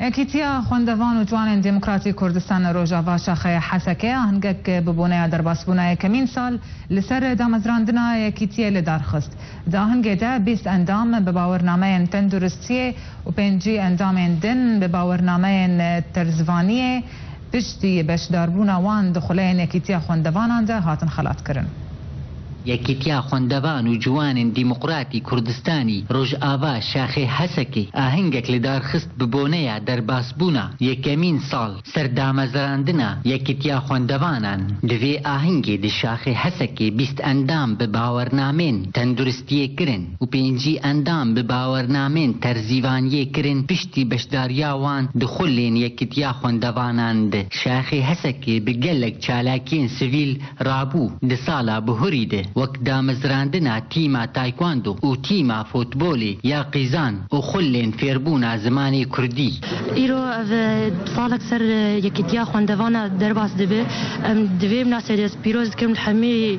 Yekîtiya Xwendevan û Ciwanên Demokratîk Kurdistana Rojava Şaxeya Heseke a hingek bi boneya derbasbûna yekemîn sal li ser damezrandina yekîtiyê li dar xist. Di ahingê de bîst endam bi bawernameyên tenduristiyê û pêncî endamên din bi bawernameyên terzvaniyê, Piştî beşdarbûna wan di xuleyên Yekîtiya Xwendevanan de hatin xelatkirin. Yekîtiya Xwendevan û Ciwanên Dîmoqratî Kurdistanî Rojava Şaxê Hesekê ahengek li dar xist bi boneya derbasbûna yekemîn sal ser damezrandina Yekîtiya Xwendevanan. Di vê ahengê di Şaxê Hesekê bîst endam bi bawernamên tenduristiyê kirin. û pêncî endam bi bawernamên terzîvaniyê kirin piştî beşdariya wan di xulên Yekitiya Xwendevanan de. Şaxê Hesekê bi gelek çalakiyên sivîl rabû di sala bihurî de wek damezrandina tîma Taekwondo û tîma futbolê ya qîzan û xulên fêrbûna zimanê kurdî. Îro ev salek ser Yekitiya Xwendevanan derbas dibe. Em di vê minasebetê dest pîroz dikim li hemî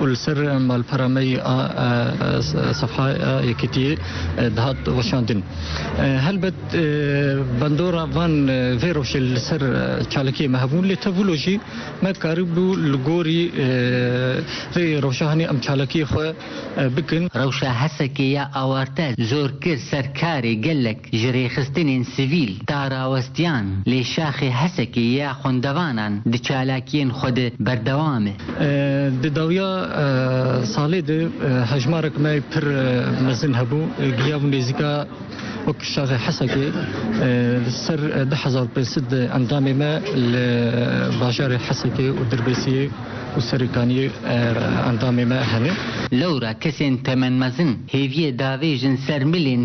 û li ser malpera me yê a sefhaya Yekîtiyê dihat weşandin. Helbet bandora van vê rojê li ser çalakiyê me hebûn lê tevû lo jî me karîbû li gorî vê rojahanê em çalakiyê xwe bikin. Rewşa HSK'ê ya awarte zor kir ser karê gelek. Ji rêxistinên sivîl ta rawestiyan lê şaxê Hesekê ya xwendevanan di çalakiyên xwe de berdewam e. Di dawiya salê de hejmarek me pir mezin hebû, giyabû nêzîka wek şaxê Hesekê li ser du hezar û pênc sed endamê me li bajarê Hesekê û Dirbêsiyê û Serêkaniyê endamê me hene. Lewra kesên temenmezin hêviyê davêjin ser milên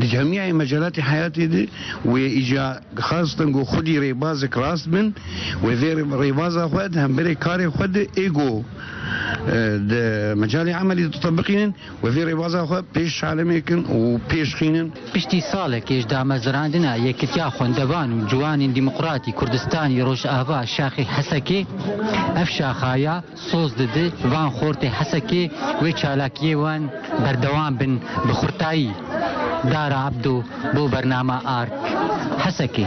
Di camîyayê Mecalatê Heyatê de wê îca dixwastin ku xwedî rêbazek rast bin wê vê rêbaza xwe di hemberê karê xwe de ê ku di mecalê emelî de ditebiqînin wê vê rêbaza xwe pêş şalemê kin û pêşxînin. Piştî salekê ji damezrandina Yekitiya Xwendevan û Ciwanên Dîmoqratî Kurdistanî Rojava Şaxê Hesekê ev şaxaya, Soz dide van xortê Hesekê wê çalakiyê wan berdewam bin bi xurtayî Dara Ebdo bo bernama Ark Hesekê.